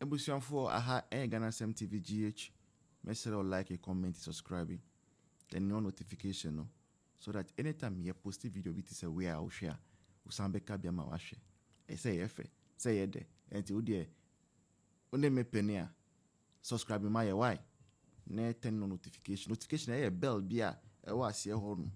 Abusuafoɔ aha ɛyɛ Ghanasɛm TV GH mɛsrɛ wo like comment subscribe then nyɔn notification no so that anytime yɛ post video bi te sɛ wei a wo hwɛ a wo san bɛka bi ama wahwɛ ɛyɛ sɛ ɛyɛ fɛ sɛ ɛyɛ dɛ ɛnti wo deɛ wo ne me pɛ ni a subscribe ma yɛ why na turn on notification notification ɛyɛ bell bi a ɛwɔ aseɛ hɔ nom.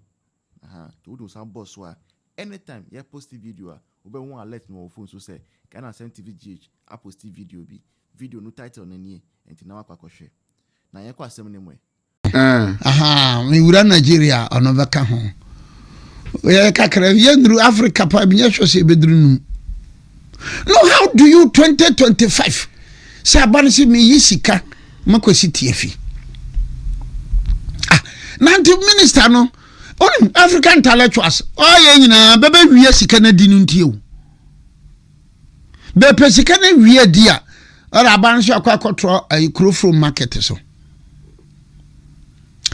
Aha nti wode wo san bɔ so a anytime yɛ posti video a wobɛhu alert no wɔ wo phone so sɛ Ghana Asɛm TV GH aposti video bi, video no title no nie nti na wakɔ akɔhwɛ. Na yɛnkɔ asɛm no mu ɛ. Aha me wura Nigeria ɔno bɛka ho. Yɛyɛ kakra yɛnnuru Africa paa bi nyɛ sure sɛ yɛbɛduru num. no how do you 2025 sɛ aba no sɛ meyi sika makɔsi tiafi ah, nante minister no ɔne african intellectuals ɔyɛ oh, nyinaa bɛbɛwia sika no adi no ntie o bɛpɛ sika no wia di a ɔde aba no so akɔ akɔtorɔ ayi eh, kuroforo market so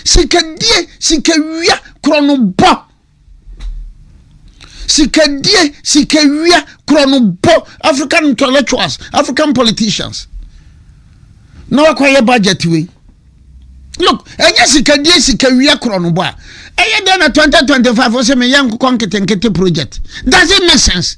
sikadie sikawia korɔ no bɔ Sikadie, sikawia, korɔnobɔ, African intellectuals, African politicians. Na wakɔyɛ budget wei. Look, ɛnyɛ sikadie, sikawia, korɔnobɔ a. Ɛyɛ dɛn na 2025 wo sɛ meyɛ nkokɔ nketenkete project? Does it make sense?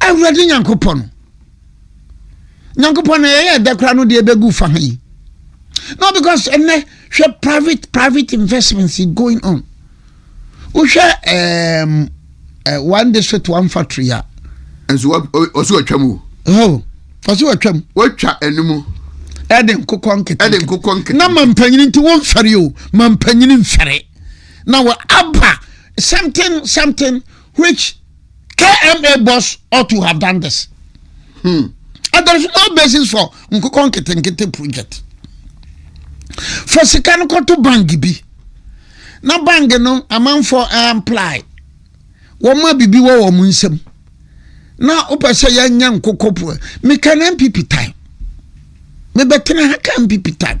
awurade nyankopɔn nyankopɔn na yɛyɛ ɛdɛ koraa no deɛ ɛbɛgu fa ha yi no because ɛnɛ hwɛ private private investments going on wohwɛ um, uh, one district one factory a nso ɔsi ɔtwa mu o ɔsi ɔtwa mu wɔtwa ɛnum ɛde nkokɔ nkete ɛde nkokɔ nkete na mampanyini nti wɔn fɛre o mampanyini nfɛre na wɔ aba something something which KMA boss ought to have done this. Hmm. And there's no basis for nkokɔ nketenkete project. For sika no kɔto bank bi. Na bank no amanfoɔ amply. Wɔn a biribi wɔ wɔn nsam. Na wopɛ sɛ yɛnyɛ nkokɔ po. Meka no MPP time. Mebɛtena ha ka MPP time.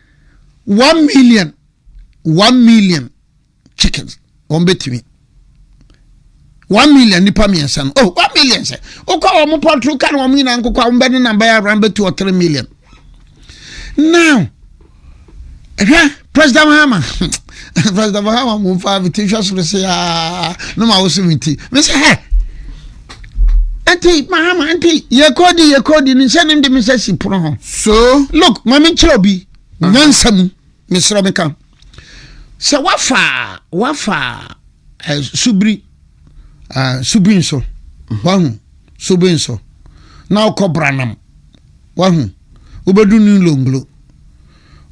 one million one million chickens wɔn bɛtumi one million nipa mmiɛnsa no oh one million sɛ wokɔ a wɔn pɔtoro ka no wɔn nyinaa nkokɔ a wɔn bɛ ne namba yɛ around bɛ two or three million now ɛhwɛ president mahama president mahama mo nfa mi ti hwɛ soro se aa ah, ne ma woso mi ti mi sɛ hɛ. Enti, Mahama, enti yɛkɔdi yɛkɔdi no sɛ ne de me sɛ si pono ho. So. Look, ma me nkyerɛ obi nyansa mu mesrɛ me ka. Sɛ wafa wafa eh, subiri eh, subiri nso wahu subiri nso na ɔkɔ branam wahu wobɛdu ne longlo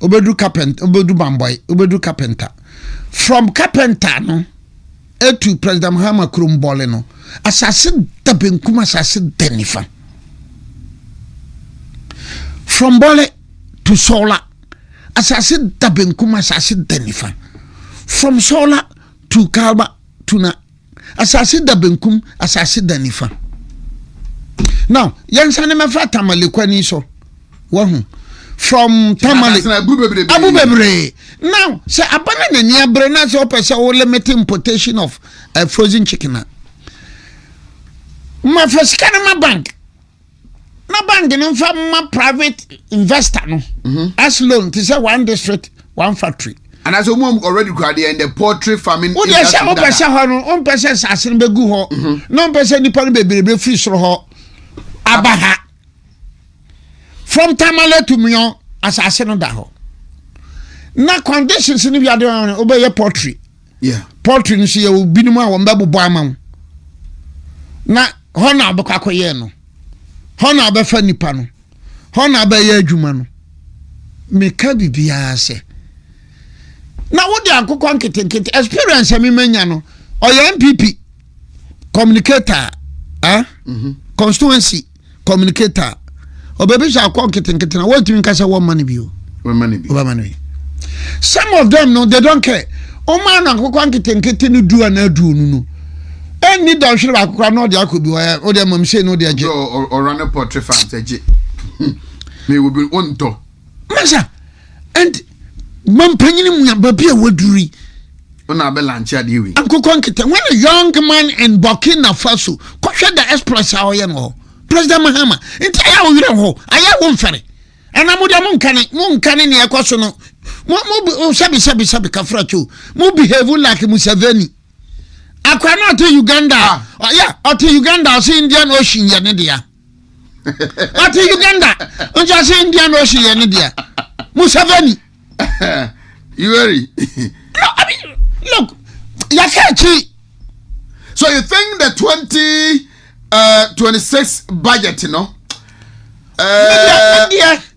wobɛduru carpenter wobɛduru bambɔe wobɛduru carpenter from carpenter no etu president mahama kurom bɔle no asase da benkum asase da nifa from bɔle to sɔla asase da benkum asase da nifa from sɔla to kalba to na Asase da benkum, asase da nifa. Now, yɛnsa ne mɛfa tamale kwani so. Wahu. From tamale. Abu bebree. Now, sɛ abana na ni abere na sɛ ɔpɛ sɛ o limit importation of uh, frozen chicken na. Ma fa sika na ma bank. na bank no nfa ma private investor no mhm. as loan te sɛ one district one factory. anaasɛ wɔn already kura deɛ in the poultry farming industry dada. wọ́n yẹ sẹ́ wọ́n pẹ sẹ́ họ no wọ́n pẹ sẹ́ sase no bẹ gu họ mhm. na wọ́n pẹ sẹ́ nipa no bebree bẹ firi soro họ aba ha from tamale to miyan asase no da họ na conditions ni bi adi wọn wọ́n bẹ yẹ poultry. Yeah. Poultry nso yɛ obinom a wɔn bɛbobɔ ama wo. Na hɔ na abɛkɔ akɔyɛ no. Hɔ na abɛfa nipa no. Hɔ na abɛyɛ adwuma no. Meka biribiara sɛ. Na wode akokɔ nketenkete experience a memanya no ɔyɛ MPP communicator ah mm -hmm. constituency communicate a ɔbɛbisa akɔ nketenkete na wɔntumi nka sɛ wɔmma no bio wɔbɛma no bi some of them no they don't care ɔma no akokɔ nketenkete no du anaa aduonu no ɛnni dɔnhwere baako koraa na ɔde akɔ bi ɔyɛ ɔde amam sei na ɔde agye ɔra ne pɔtre fa ntɛgye na ewu bi ɔntɔ masa and mampanyini mu aba bi a waduri ɔna abɛ lanche adeɛ wei ankokɔ nkete when a young man in burkina faso kɔhwɛ the exploits a ɔyɛ no president mahama nti ayɛ wo werɛ hɔ ayɛ wo mfɛre ana mo deɛ mo nkane mo nkane nea ɛkɔ so no mo mo sɛbi sɛbi sɛbi kafra kyo mo behave like museveni akwa na ɔte uganda ah. ɔyɛ ɔte uganda ɔse indian ocean yɛ ne deɛ ɔte uganda nkyase india na ɔhyɛ yɛ ne deɛ museveni yoweri no i mean look yɛka akyi so you think the 20 uh, 26 budget no uh,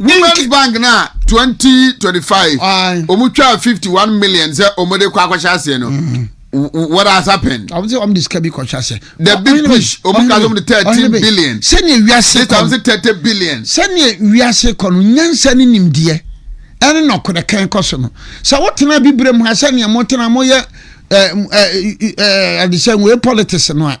ne first bank no a 2025 wɔn twaa 51 million sɛ wɔn de kɔ akɔhyɛ aseɛ no. Mm. what has happened. àwọn sẹ ọmọ de sika bi kọ ṣe ase. the big push ọmọ kan ọmọ de thirteen billion. sani ewiase kọ no thirty billion. sani ewiase kọ no nyansa ni nimdeɛ ɛne na ɔkɔdɛ kɛn kɔ so no sɛ wotena bibire mu ha sɛnea motena moyɛ ɛɛ ɛɛ ɛde sɛ wɔyɛ politics no a.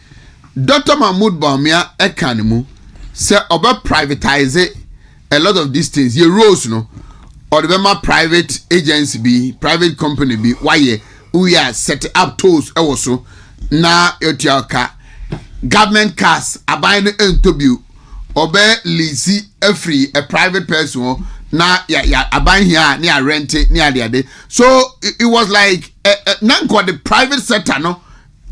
Dɔkta Mahmoud Bawumia ka no mu sɛ ɔbɛ privatise a lot of these things, yɛ roads no ɔde bɛma private agency bi, private company bi wayɛ wowie a set up tolls wɔ so na yɛtua ɔka. Government cars, aban no ntɔ bio, ɔbɛ lease afiri a private person hɔ na ya, ya, aban hia a ne yɛ rente ne adeade. So it was like, eh, eh, na nka ɔde private sector no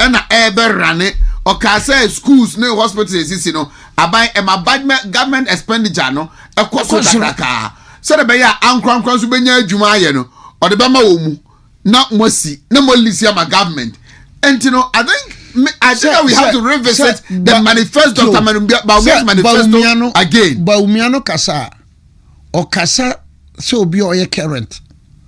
na ɛbɛ rane ɔkaa sɛ schools ne hospital esisi no aban ɛma government expenditure no ɛkɔ so kakrakaa sɛde bɛyɛ a ankorankora nso bɛnya adwuma ayɛ no ɔde bɛma wɔ mu na moasi na moalisi ama government nti no I think I think that we have to revisit the manifest Dr. Bawumia's manifesto again. Bawumia no kasa ɔkasa sɛ obi a ɔyɛ current.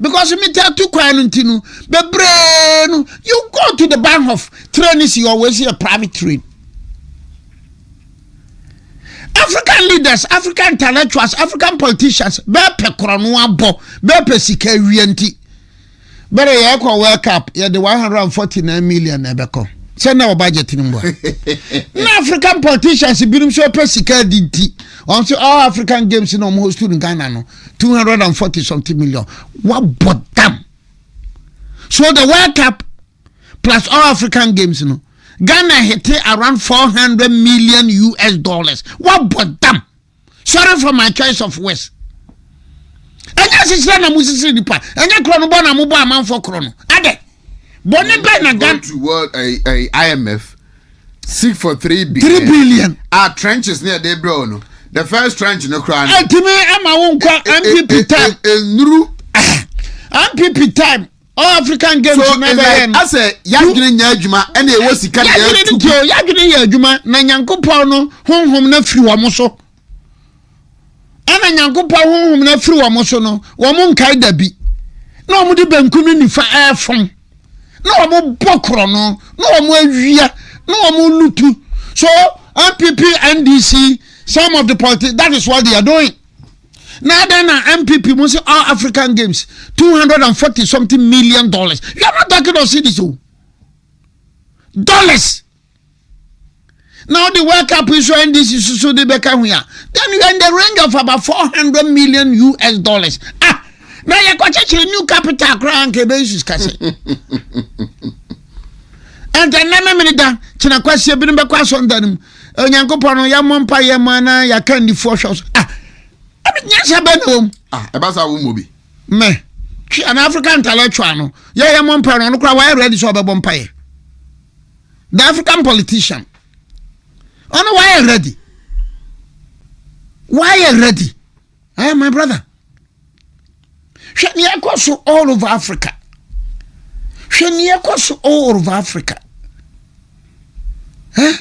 because metaa tu kwan no nti no bebree no you go to the bahnhof train is your way see a private train african leaders african intellectuals african politicians bɛɛpɛ korɔ no abɔ bɛɛpɛ sika awia nti Bere yɛkɔ World Cup, yɛde 149 million na ɛbɛkɔ. Sɛ na wɔ budget no mu a. Na African politicians binom nso pɛ sika di nti, wɔn nso all African games na wɔn host no Ghana no, 240 something million. Wabɔ dam. So the World Cup plus all African games no, Ghana hete around 400 million US dollars. Wabɔ dam. sorry for my choice of words ɛnyɛ sisira na mo sisiri nipa ɛnyɛ korɔ no bɔ na mo bɔ amanfo korɔ no adɛ bɔnne bɛn na gan. imf seek for three billion. three billion. a trenches ne ɛde brɛ no the first trench no kura no. ɛtumi ama wo nkɔ npp time. nnuru. npp time all african games so na bɛyɛ no asɛ yadwene nyɛ adwuma ɛna ɛwɔ sika na yɛtu yadwene nti o yadwene yɛ adwuma na nyankopɔn no honhom no afiri wɔn so ɛna nyankopɔn honhom no afiri wɔn so no wɔn nkae da bi na wɔn de benkum ne nifa ɛɛfam na wɔn bɔ korɔ no na wɔn awia na wɔn lutu so npp ndc some of the politics that is what they are doing. na adɛn na npp mu sɛ all african games 240 something million dollars you are not talking of cities o dollars na wode world cup nso ndc susu de bɛka ho a then you are in the range of about 400 million us dollars ah na yɛkɔkyekyere new capital koraa nka ɛbɛnsu sika sɛ ɛntɛ nnɛ memene da kyena kwaseɛ binom bɛkɔ asɔnda no mu onyankopɔn no yɛmmɔ mpa yɛ ma na yɛaka nnifoɔ hwɛ so ah ɛbi nyansa bɛ na wɔm ah ɛba saa wommɔ bi mɛ twe ana african intellectual no yɛyɛ mmɔ mpa no ɔno koraa wayɛ ready sɛ ɔbɛbɔ mpa yɛ the african politician ɔno wayɛ ready wayɛ ready eh my brother hwɛ nea ɛkɔ so all over africa hwɛ nea ɛkɔ so all over africa eh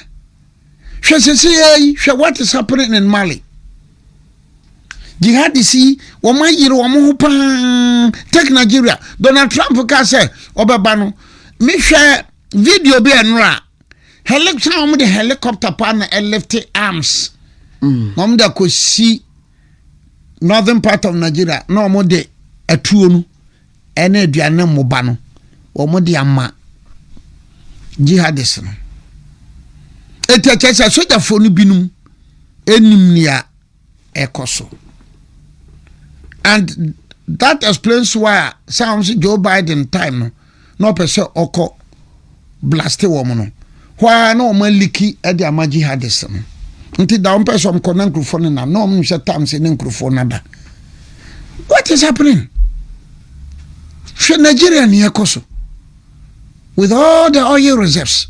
hwɛ sese yɛ yi hwɛ what is happening in mali jihadis yi wɔn ayere wɔn ho paa take nigeria donald trump ka sɛ ɔbɛba no mehwɛ video bi ɛnora. Helic na wɔn de helicopter pa na ɛlifte arms. Mm. Na wɔn de akɔsi northern part of Nigeria na wɔn de atuo no ɛne aduane mmoba no wɔn de ama jihadist no. Eti ɛkyɛ sɛ sogyafoɔ no binom ɛnim nea. ɛkɔ so and that explains why a sɛ wɔn sɛ joe biden time no na ɔpɛ sɛ ɔkɔ blaste wɔn no hɔ ara na wɔn aliki ɛde ama jihadist no nti da wɔn pɛ sɛ wɔn kɔ na nkurɔfoɔ no nam na wɔn nhyɛ tam sɛ ne nkurɔfoɔ no ada what is happening hwɛ nigeria ni ɛkɔ so. with all the oil reserves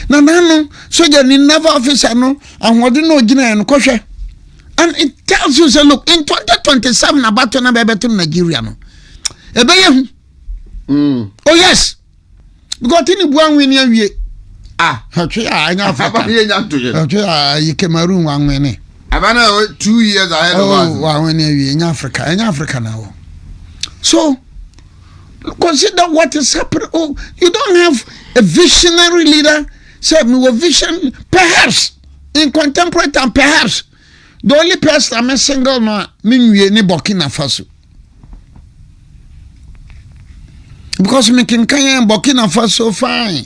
na n'ano sogyani naval officer no ahoɔden na ogyinaeɛ no kɔhwɛ and it tells you say look in 2027 abato na bɛbɛto no nigeria no ɛbɛyɛ hu mm. oh yes because tini bua nwi ni awie ah hwɛ a ɛnyɛ africa hwɛ a yi cameroon wa nwi ni ɛbɛ na o two years ahead of oh, us wa nwi ni awie ɛnyɛ africa ɛnyɛ africa na wɔ so. consider what is happening oh you don't have a visionary leader sɛ mewɔ vision perhaps in contemporary time perhaps the only person a me single no a me nwie ne burkina faso because me kenkan burkina faso fine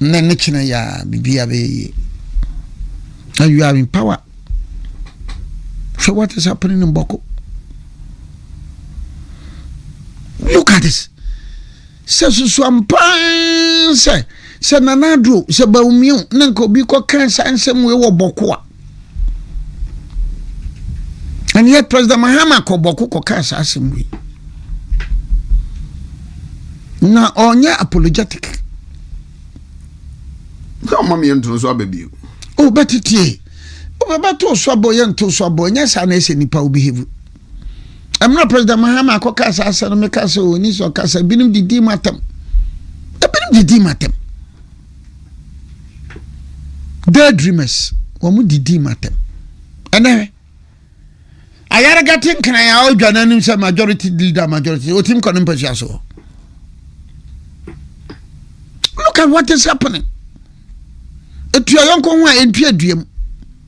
Nnɛ ne kyena yi a biribiara bɛyɛ yie. And you are in power. Hwɛ what is happening in Boko. Look at this. Sɛ susu ampaa sɛ sɛ nanaduro sɛ bawumio na nka obi kɔ kan saa nsɛm wei wɔ Boko a. And yet President Mahama kɔ bɔko kɔ kaa saa asɛm wei. Na ɔnyɛ apologetic. Sɛ ɔma meyɛ ntono so aba bio. O bɛte tie. Wobɛbɛto so abɔ yɛ nto so abɔ nyɛ saa na ɛsɛ nipa wo behave. Ɛmmerɛ President Mahama akɔ kaa saa asɛm no meka sɛ ɔni sɛ ɔkasa binom didi matam. Ebinom didi matam. Daydreamers, wɔn didi ma tɛm. Ɛnɛ hwɛ. Ayarega te nkran a ɔdwa n'anim sɛ majority leader majority otim kɔ ne mpasua so. Look at what is happening. Etua yɔnko ho a entua duam.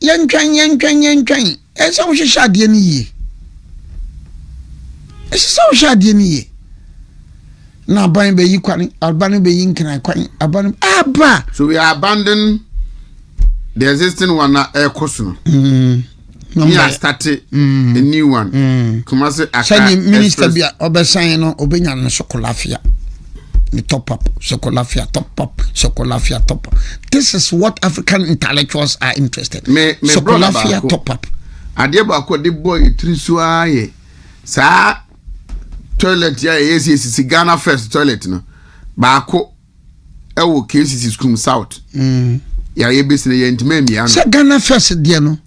Yɛntwɛn, yɛntwɛn, yɛntwɛn. Ɛsɛ sɛ wohyehyɛ adeɛ no yie. Ɛsɛ sɛ wohyehyɛ adeɛ no yie. Na aban bɛyi kwan, aban no bɛyi nkran kwan, aban no aba. So we are abandoning the existing one na ɛkɔ so no. Mm. We are starting mm. a new one. Mm. Kumasi aka ɛsɛ. Sɛ minister bi a ɔbɛsan no, ɔbɛnya no so kɔlafia. The top up, Sokolafia, top up, Sokolafia, top up. This is what African intellectuals are interested. Me, me Sokolafia, top up. Adeɛ baako de bɔ etiri so ara yɛ saa toilet a ɛyɛ sisi Ghana first toilet no baako ɛwɔ KCC school south. Mm. Yàrá yɛ besi na yɛ ntoma mmea no. Sɛ Ghana first deɛ no.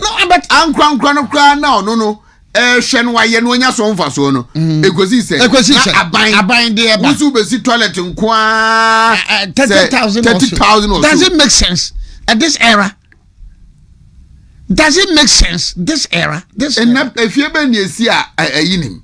na abɛt ankorankora no koraa na ɔno no ɛhwɛ no wayɛ no ɔnya so mfasoɔ no mm. ɛkɔsi sɛ na aban aban de ɛba woso bɛsi toilet nko ara eh, eh, thirty thousand or so does it make sense at this era does it make sense this era this era ɛna efie bɛ ni esi a ɛyi nim.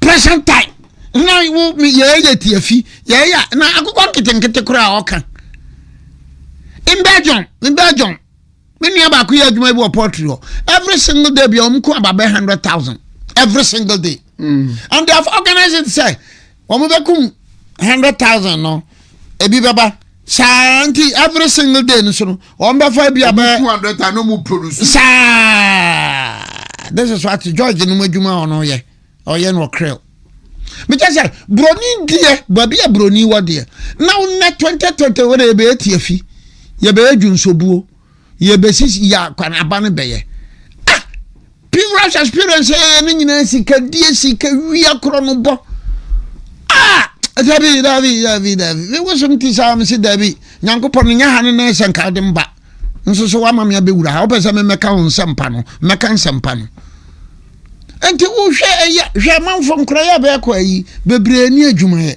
present time na wo yɛyɛ tiafi yɛyɛ na akokɔ nketenkete koraa a ɔka in belgium in belgium me nua baako yɛ adwuma bi wɔ poultry hɔ every single day bia ɔmo ko aba bɛ hundred thousand every single day mm. and they have organized it sɛ wɔn bɛkum hundred thousand no ebi bɛba saa nti every single day no so no wɔn bɛfa bi abɛ two hundred thousand no mu produce saa this is what george no mu adwuma a ɔno yɛ ɔyɛ no ɔkrɛw mekyɛ sɛ buroni deɛ baabi a buroni wɔ deɛ na wonɛ twenty twenty wɔn na yɛbɛyɛ tiafi yɛbɛyɛ dwonsobuo. yɛbɛsisi yɛ akwanaba no bɛyɛ ah pilgrimage experience yɛyɛ no nyinaa sikadie sikawia korɔ no bɔ ah dabi dabi dabi dabi mewosom ti saa mese dabi nyankopɔn no nyɛ ha no na ɛsɛ nka wode mba nso so woama me abɛwura ha wopɛ sɛ memɛka wo nsɛmpa no mɛka nsɛmpa no nti wohwɛ ɛyɛ hwɛ amanfo nkorɔyɛ bɛɛkɔ ayi bebree ne adwumayɛ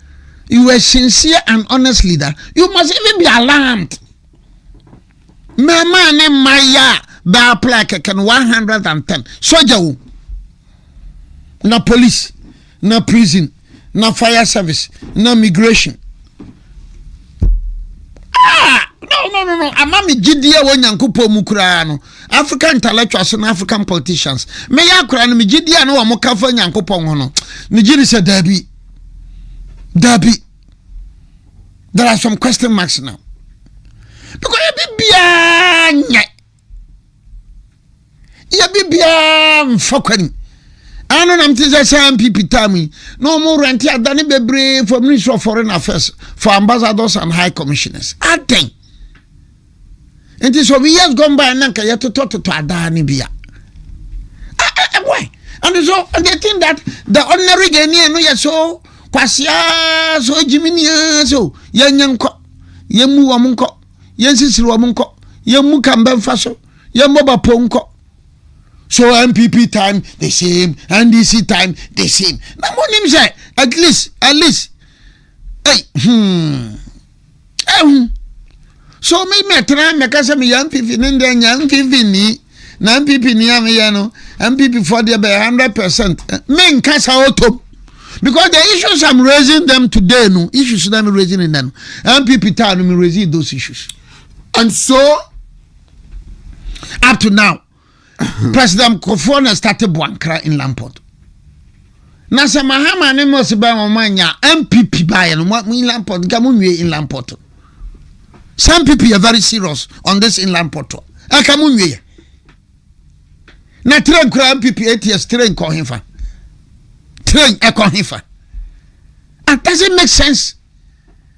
you were sincere and honest leader you must even be alarmed mmarima ne mmaayewa a bɛa apply kɛkɛ no one hundred and ten sogya wo na police na prison na fire service na migration ah no no no no ama me gyidie wɔ nyankopɔn mu koraa no african intellectuals na african politicians meyɛ akora no me gyidie a ne wɔn kafa nyankopɔn ho no ne gyidi sɛ daabi dabi there are some question marks now because yɛ bibiara nyɛ yɛ bibiara nfa kwani ano nam te sɛ saa npp time yi na wɔn rɛnte adane bebree for ministry of foreign affairs for ambassadors and high commissioners atɛn. nti sɛ obi years gone by na nka yɛtotɔtotɔ adaa no bi a why and so they think that the ordinary ghanaian no yɛ so kwaseaa so gyiminia so yɛnyɛ nkɔ yɛmmu wɔm nkɔ yɛnsisiri wɔm nkɔ yɛmmu kambɛmfa so yɛmmɔ bapo nkɔ so npp time the same ndc time the same na monim sɛ at least at least hey, hmm. ehu so mi mɛtena mɛka sɛ meyɛ npp ne deɛ nyɛ npp ni na npp ni a meyɛ no npp foɔ deɛ bɛyɛ hundred percent menka sa ɔtɔm because the issues i'm raising them today no issues na me raising in them npp taa no me raising those issues and so up to now president kofoɔ na start boankra inland port na sɛ mahama ne mɔsi bɛn wɔn anya npp baayɛ no mo inland port nka mo nwie inland port sɛ npp yɛ very serious on this inland port ɛka mo nwie yɛ na train kura npp ats train kɔ hefa train ɛkɔ hefa ah does it make sense